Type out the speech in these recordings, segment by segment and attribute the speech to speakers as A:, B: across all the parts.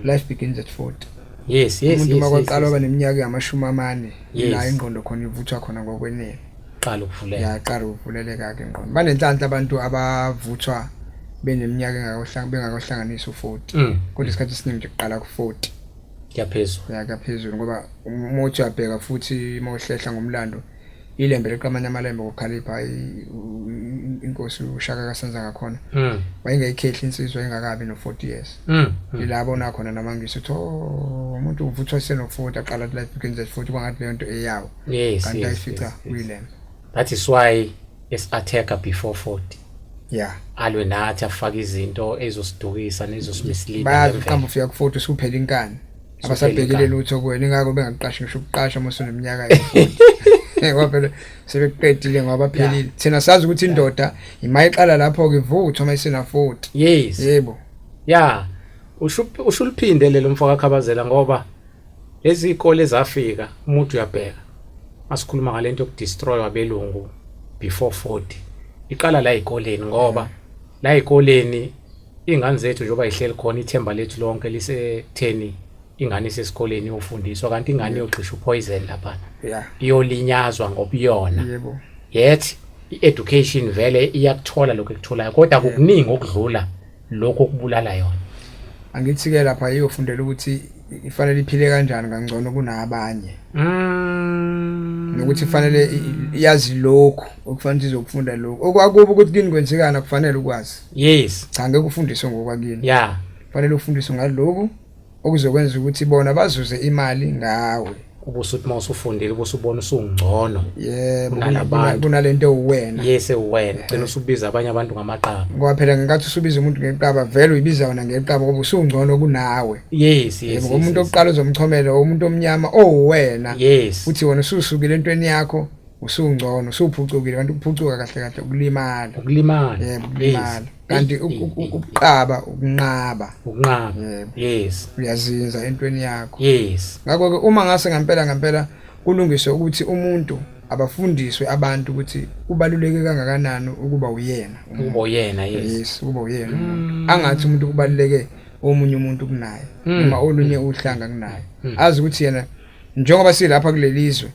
A: life begins at 40 yes yes umuntu
B: makwaqala oba
A: neminyaka yamashumi amane la ingqondo khona ivuthwa khona ngokwenene qala ukuvuleka
B: yaqala ukuvuleleka
A: ke ingqondo banenhlanhla abantu abavuthwa beneminyaka engakahlanga bengakohlanganisa u40 mm. kodwa isikhathi esiningi nje kuqala ku40 yaphezulu yaphezulu ngoba umuthi uyabheka futhi mawuhlehla ngomlando ilembe liqamanya amalembe ngokukhalipha inkosi ushaka kasenza ngakhona hmm. wayengayikhehle insizwa engakabi no-40 years hmm, hmm. ilabo nakhona namangisi ukuthi oh, umuntu uvuthwa isenoku-40 aqala at life begins at 40 kwangathi leyo nto eyawo kanti ayifica kuyilembe that is why
B: esi-attacker before 40 ya
A: alwe nathi
B: afake izinto ezosidukisa nezosimisleada bayazi uqamba ufika ku-40
A: usuphela inkani abasabhekile lutho kuwena ingakho bengakuqashi ngisho ukuqasha uma usuneminyaka ngoba phela sebeqedile ngoba baphelile thina sazi ukuthi indoda imayiqala lapho-ke ivutha uma isenafoti yes yebo
B: ya ushuluphinde lelo mfoka khabazela ngoba lezi zikole zafika umuntu uyabheka asikhuluma ngalento yokudestroy wabelungu before 40 iqala la ezikoleni ngoba la ezikoleni Iy'ngane zethu njengoba yihleli khona ithemba lethu lonke lisekutheni ingane isesikoleni iyofundiswa kanti ingane iyogxisha uphoyizeni laphana yeah
A: iyolinyazwa
B: ngobuyona yebo yet i-education vele iyakuthola lokho ekutholayo kodwa kukuningi okudlula lokho okubulala yona angithi-ke
A: lapha iyofundela ukuthi ifanele iphile kanjani kangcono kunabanye mm. nokuthi ifanele i- i- yazi lokhu okufanele ukuthi izokufunda lokhu okwakuba ukuthi kini kwenzekani akufanele ukwazi yes cha ngeke
B: ufundiswe
A: ngokwakini yeah fanele
B: ufundiswe
A: ngaloku okuzokwenza ukuthi bona bazuze imali ngawe ubusuthi uma
B: usufundile ubusubona usungcono yebo
A: kunalento uwena yes uwena gcina
B: usubiza abanye abantu ngamaqaba ngoba phela ngenkathi usubiza
A: umuntu ngeqaba vele uyibiza wona ngeqaba ngoba usungcono kunawe yes yes yebo
B: umuntu oqala
A: uzomchomela umuntu omnyama owena yes futhi wona
B: ususukile
A: entweni yakho usungcono usuphucukile kanti ukuphucuka kahle kahle ukulimala ukulimala yebo
B: ukulimala
A: kanti ukuqaba ukunqaba ukunqaba yes uyazinza entweni yakho yes ngakho ke
B: uma ngase
A: ngempela ngempela kulungiswe ukuthi umuntu abafundiswe abantu ukuthi kubaluleke kangakanani ukuba uyena ukuba uyena yes yes
B: ukuba uyena
A: mm. angathi umuntu kubaluleke omunye umuntu kunaye mm. noma olunye uhlanga kunaye mm. azi ukuthi yena njengoba silapha kulelizwe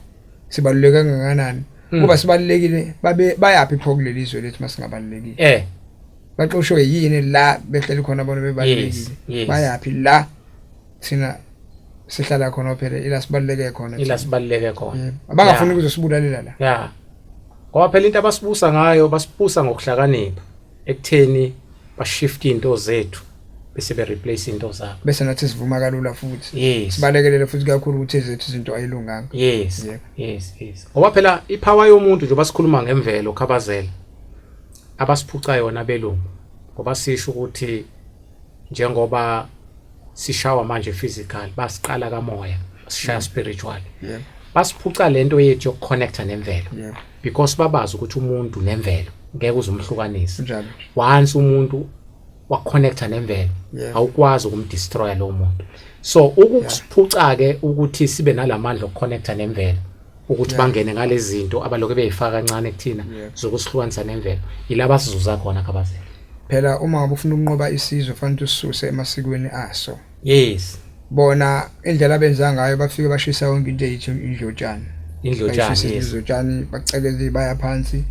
A: sibaluleke kangakanani Mm. ngoba sibalulekile babe bayaphi pho kuleli zwe lethu masingabalulekile eh baxoshwe yini la behleli khona bona yes bebalulekile yes bayaphi la thina sihlala khona phela ila sibaluleke khona ila sibaluleke khona Yebo. abangafuni ukuzosibulalela la ya
B: ngoba phela into abasibusa ngayo basibusa ngokuhlakanipha ekutheni bashift into zethu bese be replace into zabo bese nathi sivuma kalula
A: futhi yes sibalekelele futhi kakhulu ukuthi ezethu izinto ayilunganga yes
B: yeah. yes yes ngoba phela ipower yomuntu nje basikhuluma ngemvelo khabazela abasiphuca yona belungu ngoba sisho ukuthi njengoba sishawa manje physical basiqala kamoya sishaya mm. spiritual yeah. basiphuca lento yethu yokuconnecta nemvelo yeah. because babazi ukuthi umuntu nemvelo ngeke uzumhlukanisa once umuntu waconnecta nemvelo yeah. awukwazi ukumdestroya lowo muntu so ukusiphuca-ke ukuthi sibe nalamandla okuconnecta nemvelo ukuthi bangene ngalezi zinto abalokhu beyifaka kancane kuthina zokusihlukanisa nemvelo yilaba sizuza khona khabazela phela uma ngabe
A: ufuna ukunqoba isizwe fanele usisuse emasikweni aso yes
B: bona
A: indlela abenza ngayo bafike bashisa yonke into eyithi indlotshana indlotshana yes indlotshana bacekele baya phansi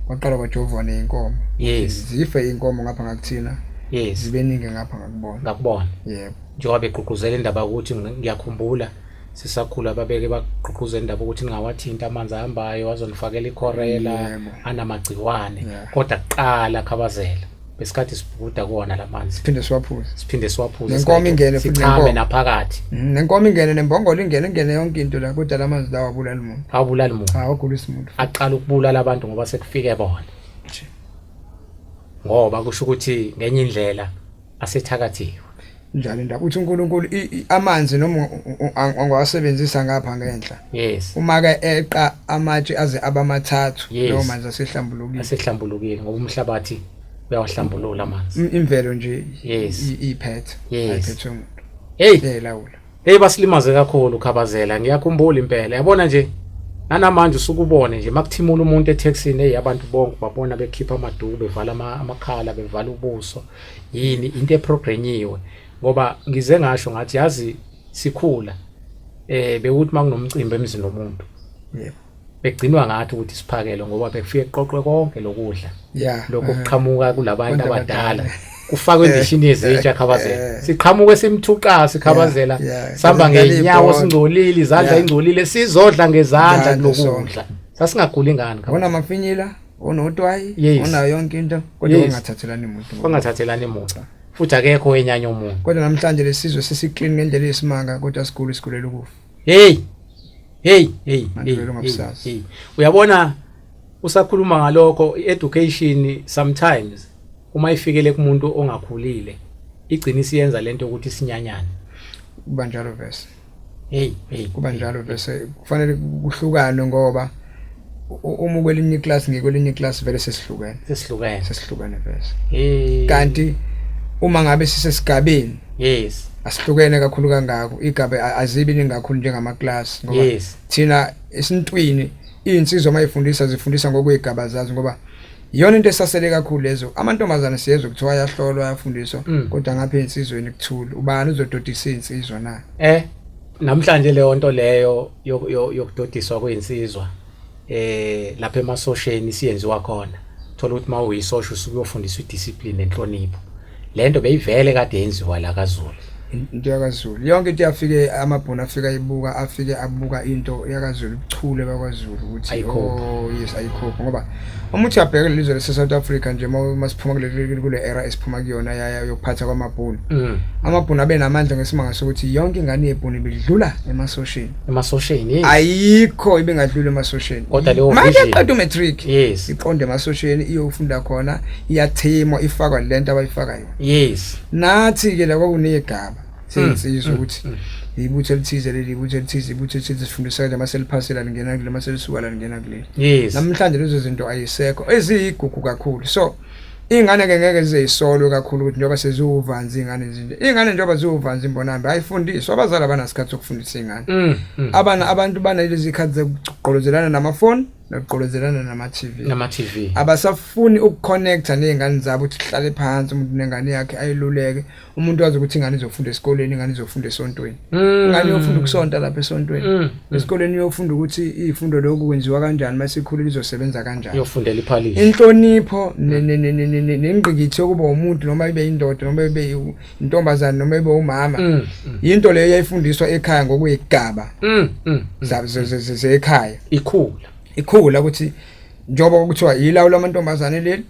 A: kwaqala kwajovwa neinkomo yes zife inkomo ngapha ngakuthina yes zibeningi ngapha ngakubona ngakubona yebo njengoba begqugquzela
B: indaba ukuthi ngiyakhumbula sisakhula babeke bagqugquza indaba ukuthi ningawathinta amanzi ahambayo azonifakela ikhorela anamagciwane kodwa kuqala khabazela besikhathi sibhukuda kuwona la manzi siphinde siwaphuze siphinde siwaphuze nenkomo ingene sichame
A: naphakathi mhm,
B: nenkomo ingene
A: nembongolo ingene ingene yonke into la kodwa la manzi lawa abulala umuntu awubulala umuntu awugulisa umuntu aqala ukubulala abantu
B: ngoba sekufike bona ngoba kusho ukuthi ngenye indlela asethakathiwe njalo
A: indaba uthi uNkulunkulu amanzi noma angawasebenzisa ngapha ngenhla yes uma ke eqa amatshe aze abamathathu lawo manzi asehlambulukile asehlambulukile
B: ngoba umhlabathi uyawahlambulula amanzi imvelo nje
A: yes iphethe ayiphethe umuntu hey lawula Hey
B: basilimaze kakhulu khabazela ngiyakhumbula impela yabona nje nanamanje usukubone nje makuthimula umuntu etaxini hey abantu bonke babona bekhipha amaduku bevala amakhala bevala ubuso yini into eprogrenyiwe ngoba ngize ngasho ngathi yazi sikhula eh bewuthi makunomcimbi emzini womuntu yebo
A: begcinwa ngathi
B: ukuthi siphakele ngoba bekufike kuqoqwe konke lokudla lokho
A: kuqhamuka
B: kulabantu abadala kufakwe endishini yezintsha khabazela siqhamuke simthuqa sikhabazela sihamba ngenyawo singcolile izandla ingcolile sizodla ngezandla kulokudla sasingaguli ngani ngabona mafinyila
A: onotwayi onayo yonke into kodwa ungathathelani muntu
B: ungathathelani muntu futhi akekho wenyanya umuntu kodwa namhlanje lesizwe
A: sesiklini ngendlela yesimanga kodwa sigulu sigulela ukufa hey
B: hey hey hey, hey. uyabona usakhuluma ngalokho education sometimes uma ifikele kumuntu ongakhulile igcina isiyenza lento ukuthi sinyanyane kuba njalo
A: verse hey hey kuba njalo verse kufanele kuhlukanwe ngoba uma kwelinye iclass ngikwelinye iclass vele sesihlukene sesihlukene sesihlukene vese kanti uma ngabe sisesigabeni yes asihlukene kakhulu kangako igabe azibi ningakhulu njengama class ngoba yes. thina isintwini insizwa mayifundisa zifundisa ngokwegaba zazo ngoba iyona into esasele kakhulu lezo amantombazana siyezwe kuthiwa ayahlolwa ayafundiswa mm. kodwa ngapha insizweni kuthula ubani uzododisa insizwa na eh Namhlanje
B: leyo nto leyo yokudodiswa kwensizwa eh lapha emasosheni siyenziwa khona. Thola ukuthi mawuyisosha usuke uyofundiswa idiscipline nenhlonipho. Lento beyivele kade yenziwa la kaZulu. Into yakaZulu.
A: Yonke into yafike amabhona afika ibuka afike abuka into yakaZulu ubuchule bakwaZulu ukuthi oh yes ayikhopha ngoba uma uthi uyabheka lelizwe lase South Africa nje uma siphuma kuleli kule era esiphuma kuyona yaya yokuphatha kwamabhunu mm. amabhunu abe namandla ngesimanga sokuthi yonke ingane yebhunu ibidlula emasosheni emasosheni
B: yes ayikho
A: ibingadlula emasosheni kodwa leyo manje
B: qeda matric
A: yes iqonde emasosheni iyofunda khona iyathimo ifakwa lento abayifaka yona yes nathi ke la kwakunegaba sengiyisizwa ukuthi ibutho elithize leli ibutho elithize ibutho elithize sifundisa kanje maseliphasela lingena kule maselisuka la lingena kule yes namhlanje lezo zinto ayisekho eziyigugu kakhulu so ingane ke ngeke zizisolwe kakhulu ukuthi njengoba seziwuvanzi ingane nje ingane njengoba ziwuvanzi imbonambe ayifundiswa abazali abanasikhathi sokufundisa ingane mm, mm. abana abantu banalezi zikhathi zokugqolozelana namafoni nokugqolozelana nama-tv nama-tv abasafuni ukuconnecta ney'ngane zabo ukuthi sihlale phansi umuntu nengane yakhe ayiluleke umuntu wazi ukuthi ingane izofunda esikoleni ingane izofunda esontweni mm. ingane iyofunda ukusonta lapha esontweni mm. Mm. esikoleni iyofunda ukuthi izifundo lokhu kwenziwa kanjani uma sikhulile izosebenza kanjani iyofundela iphalishi
B: inhlonipho
A: nengqikithi yokuba umuntu noma ibe indoda noma ibe intombazane noma ibe umama yinto leyo yayifundiswa ekhaya ngokuyigaba zekhaya ikhula ikhula ukuthi njengoba kuthiwa yilawu lamantombazane leli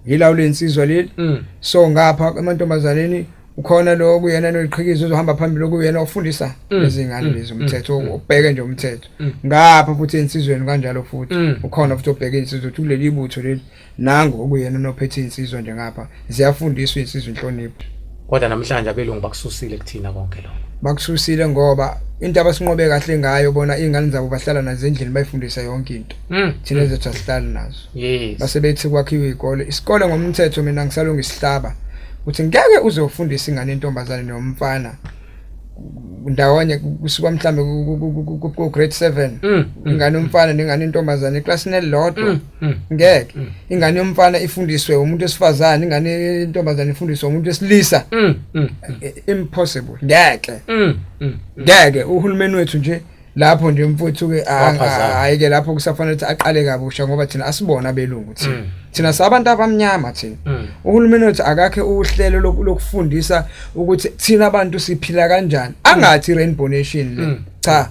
A: yilawo lensizwa leli mm. so ngapha emantombazaneni ukhona lo kuyena noyiqhikiza uzohamba phambili okuyena ofundisa mm. izingane mm. lezi mm. umthetho ubheke nje umthetho ngapha futhi insizweni kanjalo futhi ukhona futhi obheke insizwe ukuthi kuleli butho leli nangu okuyena nophethe insizwa nje ngapha ziyafundiswa insizwa inhlonipho kodwa namhlanje
B: abelungu bakususile kuthina konke lokho bakususile ngoba
A: into abasinqobe kahle ngayo bona iy'ngane zabo bahlala nazo endlini bayifundisa yonke into mm. thina zethu asihlali nazo yes. base bethi kwakhiwe iy'kole isikole ngomthetho mina ngisalunga isihlaba ukuthi ngeke uze ufundise ingane yentombazane nomfana ndawonye kusuka mhlambe ku grade 7 mm, mm. ingane umfana nengane intombazane eclassini elilodwa mm. Hmm. ngeke hmm. ingane yomfana ifundiswe umuntu esifazane ingane yentombazane ifundiswe umuntu esilisa hmm. impossible ngeke ngeke uhulumeni wethu nje lapho nje mfuthu ke hayi ke lapho kusafanele ukuthi aqale kabusha ngoba thina asibona belungu thina mm. thina sabantu abamnyama thina mm. uhulumeni wethu akakhe uhlelo lokufundisa ukuthi thina abantu siphila kanjani angathi mm. rainbow nation le cha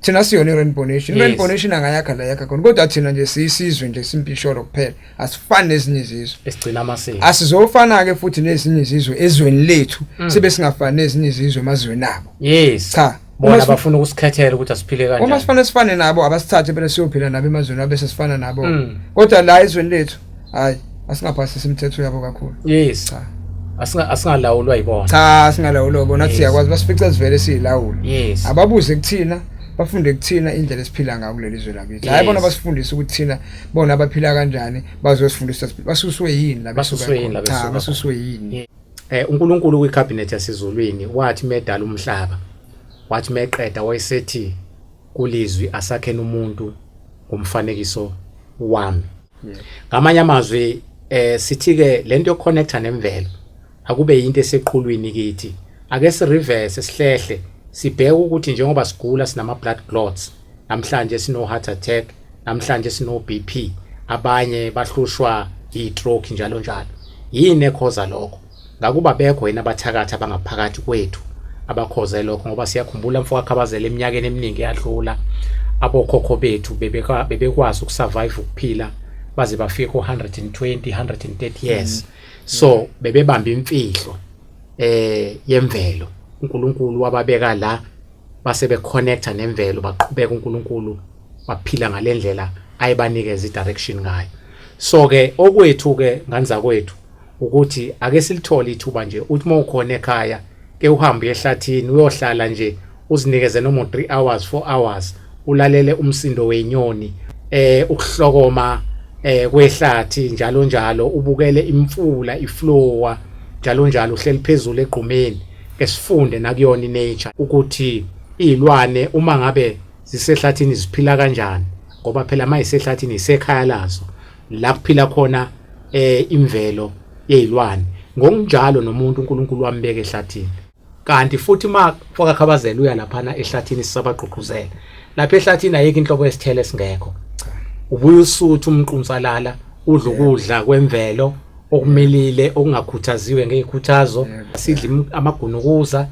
A: thina siyona i-rainbow nation i-rainbow nation angayakha la yakha khona kodwa thina nje siyisizwe nje simpisholo kuphela asifani nezinye izizwe esigcina amasiko
B: asizofana-ke futhi
A: nezinye izizwe ezweni lethu mm. sibe singafani nezinye izizwe emazweni abo yes cha bona
B: bafuna ukusikhethela ukuthi asiphile kanjani uma sifanele sifane nabo
A: abasithathe bese siyophila nabo emazweni abese sifana nabo mm. kodwa la ezweni lethu hayi asingaphasisi imithetho yabo kakhulu yes cha
B: asinga asingalawulwa yibona cha singalawulwa
A: yibona yes. siyakwazi basifica sivele silawula yes ababuze kuthina bafunde kuthina indlela esiphila ngayo kuleli zwe lakithi hayi bona basifundisa ukuthi thina bona abaphila kanjani bazosifundisa basuswe yini la basuswe yini la basuswe yini eh uNkulunkulu kwi
B: cabinet yasezulwini wathi medala umhlaba wathi meqeda wayesethi kulizwi asakhena umuntu ngomfanekiso wami ngamanye amazwi eh sithi ke lento yoconnecta nemvelo akube into eseqhulwini kithi ake si reverse sihlehle sibheke ukuthi njengoba sigula sinama blood clots namhlanje sino heart attack namhlanje sino BP abanye bahlushwa yi stroke njalo njalo yini ekhoza lokho Ngakuba bekho yini abathakathi abangaphakathi kwethu abakhoze lokho ngoba siyakhumbula mfoka Khabazela eminyakeni eminingi eyadlula abokhokho bethu bebekwazi ukusurvive ukuphila baze bafike ku-120 130 years mm. so mm. bebebamba imfihlo eh yemvelo uNkulunkulu wababeka la base beconnecta nemvelo baqhubeka uNkulunkulu baphila ngalendlela ayibanikeza idirection ngayo so ke okwethu ke nganza kwethu ukuthi ake silithole ithuba nje uthi uma ukhona ekhaya ke uhambe ehlathini uyohlala nje uzinikeze noma 3 hours 4 hours ulalele umsindo wenyoni eh ukuhlokoma eh kwehlathi njalo njalo ubukele imfula iflowa njalo njalo uhleli phezulu egqumeni esifunde nakuyona inature ukuthi izilwane uma ngabe zisehlathini ziphila kanjani ngoba phela mayisehlathini isekhaya lazo la kuphila khona eh imvelo yezilwane ngokunjalo nomuntu uNkulunkulu wambeka ehlathini kanti futhi uma foka khabazela uya laphana ehlathini sisabagqugquzela lapha ehlathini ayikho inhlobo yesithele singekho ubuye usuthu umqunsalala udla ukudla kwemvelo okumilile okungakhuthaziwe ngezikhuthazo sidla amagunukuza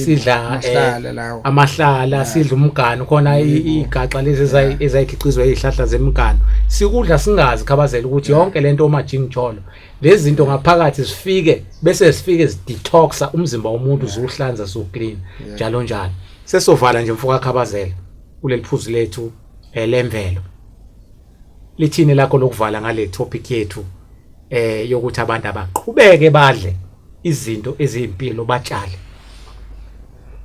B: sidla eh, amahlala sidla umganu khona igaxa lezi ezayikhiqizwa izihlahla zemiganu sikudla singazi khabazela ukuthi yonke lento uma jingijolo lezi zinto ngaphakathi zifike bese zifike zidetoxa umzimba womuntu zuhlanza so clean njalo njalo sesovala nje mfoka khabazela kuleli phuzu lethu elemvelo eh, lithini lakho lokuvala ngale topic yethu eh yokuthi abantu abaqhubeke badle izinto eziyimpilo batshale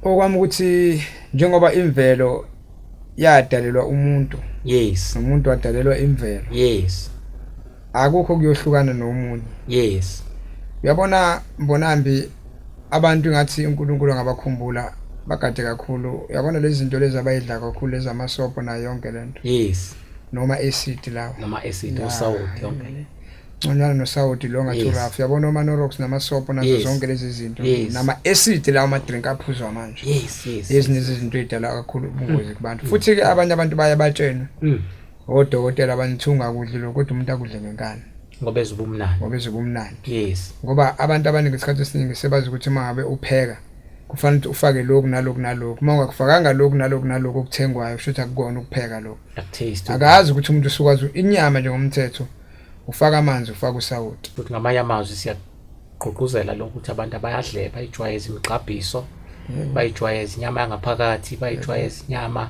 A: okwami ukuthi njengoba imvelo yadalelwa umuntu yes umuntu
B: wadalelwa
A: imvelo yes
B: akukho
A: kuyohlukana nomunye yes
B: uyabona
A: mbonambi abantu ingathi uNkulunkulu angabakhumbula bagade kakhulu yabona lezi zinto lezi abayidla kakhulu lezi amasobho nayo yonke le nto yes noma
B: acid
A: lawo noma acid usawoti
B: yonke le nconywana nosawoti
A: lo ngathi uraf yabona omanorox namasobho nazo zonke lezi zinto nama-acid lawo amadrink aphuzwa manje ezinye
B: zezinto ey'dala
A: kakhulu ubungozi kubantu mm. futhi-ke abanye abantu baye batshenwe mm. odokotela banithunga kudli lokho kodwa umuntu akudle ngenkani ngoba ezwe ubumnandi
B: ngoba ezwe ubumnandi yes ngoba abantu abaningi
A: isikhathi esiningi sebazi ukuthi uma ngabe upheka kufanele ukuthi ufake lokhu nalokhu nalokhu uma ungakufakanga lokhu nalokhu nalokhu okuthengwayo kusho ukuthi akukona ukupheka lokhu akazi ukuthi umuntu usukwazi inyama njengomthetho ufaka amanzi ufaka usawoti futhi ngamanye amazwi
B: siyagqugquzela lokhu ukuthi abantu abayadle bayijwayeze imigqabhiso bayijwayeze inyama yangaphakathi bayijwayeze inyama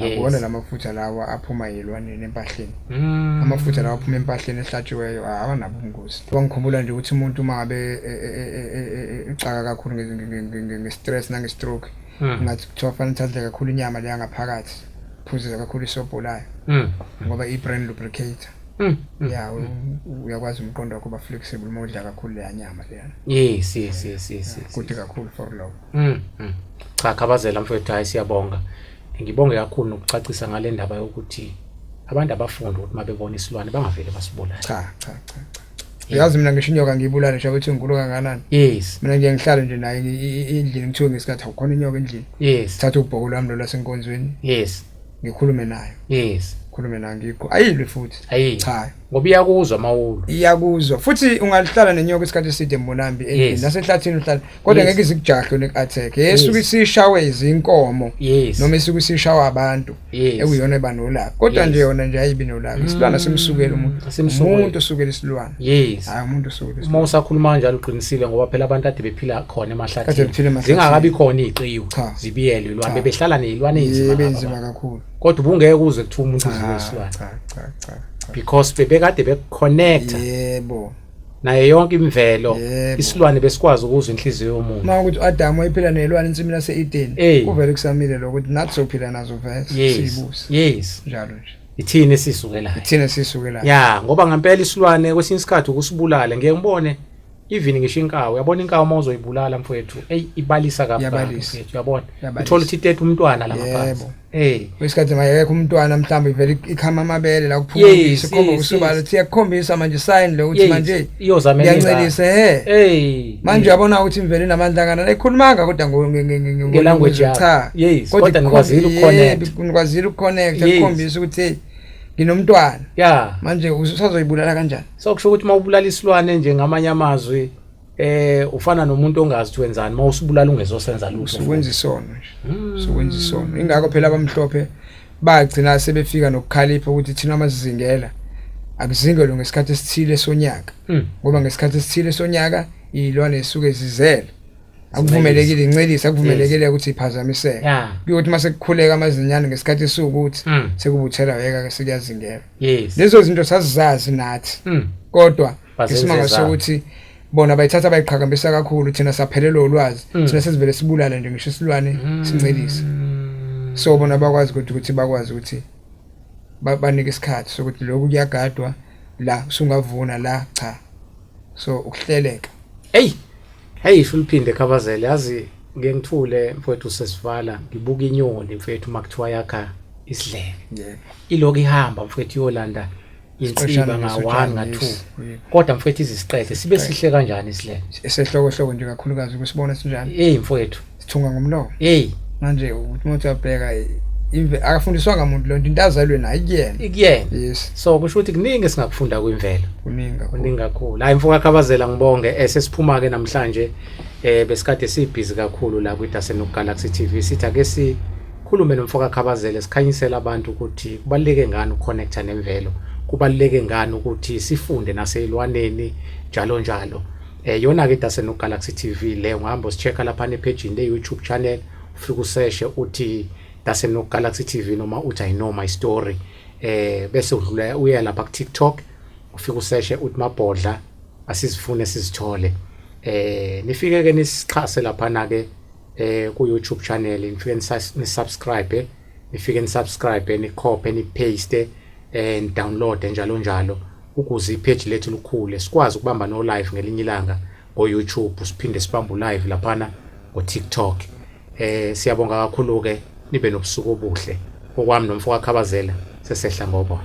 A: akuwona la mafutha lawa aphuma yilwaneni empahleni mm. amafutha lawa aphuma empahleni ehlatshiweyo awanabo ubungozi kwangikhumbula nje ukuthi umuntu uma abe e, e, e, ecaka kakhulu nge-stress nange-stroke mm. ngathi kuthiwa fanele uthathe kakhulu inyama leya ngaphakathi phuzeza kakhulu isobho layo mm. ngoba i-brain lubricator Mm, mm, ya mm. uyakwazi umqondo wakho uba flexible uma udla kakhulu leya nyama leyana yes yes yes yes
B: ah, kude kakhulu
A: for lokho Mm. mm. Cha
B: khabazela mfethu hayi siyabonga. Ngibonge kakhulu nokucacisa ngale ndaba yokuthi abantu abafundi ukuthi mabebona isilwane bangavele basibulale. Cha cha
A: cha. cha. Uyazi mina ngisho inyoka ngiyibulale nje ukuthi ngikulu kangakanani. Yes. Mina nje ngihlale
B: nje naye
A: endlini ngithiwe ngesikhathi awukhona inyoka endlini. Yes. Thatha ubhoko
B: lwami lo
A: lasenkonzweni. Yes.
B: Ngikhulume nayo.
A: Yes. Khulume
B: nayo ngikho.
A: Ayilwe futhi. Ayi. Cha. ngoba
B: iyakuzwa mawulu iyakuzwa futhi
A: ungalihlala nenyoka isikhathi eside mbonambi endlini nasenhlathini uhlala kodwa ngeke izikujahle ne-attack esuke isishawe izinkomo noma esuke isishawa abantu ekuyona eba nolaka kodwa nje yona nje ayibi nolaka mm. isilwana simsukela umuntu umuntu usukela isilwana hayi umuntu usukela uma usakhuluma kanjalo
B: uqinisile ngoba phela abantu ade bephila khona emahlathini zingakabi khona iqiwu zibiyelwe lwana bebehlala nezilwane ezinzima kakhulu
A: kodwa ubungeke uze
B: kuthiwa umuntu Cha, udliwe isilwane cha, cha, cha,
A: cha. because bebekade
B: bekuconnecta Yebo. nayo yonke imvelo Yebo. isilwane besikwazi ukuzwa inhliziyo yomuntu Uma ukuthi uAdam wayephila
A: nelwane ensimini yaseEden, Eh. kuvele kusamile lokho ukuthi nathi sophila nazo vele yes siyibusa. yes
B: Njalo nje.
A: ithini esisukelayo
B: Thina sisuke la. ya ngoba ngempela isilwane kwesinye isikhathi ukusibulala ngeke ngibone even ngisho inkawu uyabona inkawu uma uzoyibulala mfowethu eyi ibalisa kabalisa uyabona uthola ukuthi itete umntwana la ngaphansi eh wesikhathi
A: mayekho umntwana mhlawumbe ivele ikhama amabele la kuphuma isikhomba usubala siya kukhombisa manje sign lo ukuthi manje iyozamela iyancelisa he hey manje uyabona ukuthi imvele namandla kana ekhulumanga kodwa nge language
B: cha kodwa nikwazile ukuconnect
A: nikwazile ukuconnect ukukhombisa ukuthi nginomntwana yeah manje usazoyibulala kanjani so kusho ukuthi mawubulala
B: isilwane nje ngamanye amazwi eh ufana nomuntu ongazi ukuthi wenzani mawusibulala ungezosenza lutho ukwenza isono nje
A: hmm. sokwenza isono ingakho phela abamhlophe bagcina sebefika nokukhalipha ukuthi thina amazizingela akuzingelwe ngesikhathi esithile sonyaka hmm. ngoba ngesikhathi esithile sonyaka iyilwane esuke zizele akuvumelekile incelisa akuvumelekile ukuthi iphazamiseke kuyokuthi mase kukhuleka amazinyane ngesikhathi esukuthi hmm. sekubuthela yeka ke sikuyazingela yes lezo zinto sazizazi nathi mm. kodwa isimanga sokuthi bona bayithatha bayiqhakambisa kakhulu thina saphelelwa ulwazi mm. thina sesivele sibulala nje ngisho isilwane mm. sincelisa so bona bakwazi ukuthi ukuthi bakwazi ukuthi banike isikhathi sokuthi lokhu kuyagadwa la usungavuna la cha so ukuhleleka hey
B: Hey isho uliphinde khabazele yazi ngeke ngithule mfowethu sesivala ngibuka inyoni mfowethu makuthiwa yakha isidleke yeah. ilokhu ihamba mfowethu iyolanda inqishana nga 1 nga 2 kodwa mfowethu iziqede sibe sihle kanjani isidleke esehlokohloko nje
A: kakhulukazi kusibona sinjani hey mfowethu sithunga
B: ngomlomo
A: hey manje ukuthi umuntu uyabheka imve akafundiswanga umuntu lonto into azalwe nayo kuyena ikuyena yes so kusho ukuthi
B: kuningi singakufunda kwimvelo kuningi kuningi
A: kakhulu hayi mfoka
B: khabazela ngibonge eh, sesiphuma ke namhlanje eh besikade sibhizi kakhulu la kwidase nokugalaxy TV sithi ake si khulume nomfoka khabazela sikhanyisela abantu ukuthi kubaleke ngani ukuconnecta nemvelo kubaleke ngani ukuthi sifunde naselwaneni njalo njalo Eh yona ke dase no Galaxy TV le ungahamba usicheka lapha ne page le YouTube channel ufike useshe uthi dase no Galaxy TV noma uthi I know my story eh bese udlula uya lapha ku TikTok ufike useshe uthi mabhodla asizifune sizithole eh nifike ke nisixhase lapha na ke eh ku YouTube channel nifike nisubscribe nifike ni subscribe ni copy ni paste and download njalo njalo ukuze ipage lethu likhule sikwazi ukubamba no live ngelinye ilanga ngo YouTube siphinde sibambe live laphana ngo TikTok eh siyabonga kakhulu ke nibe nobusuku obuhle okwami nomfo wakhabazela sesehla ngobona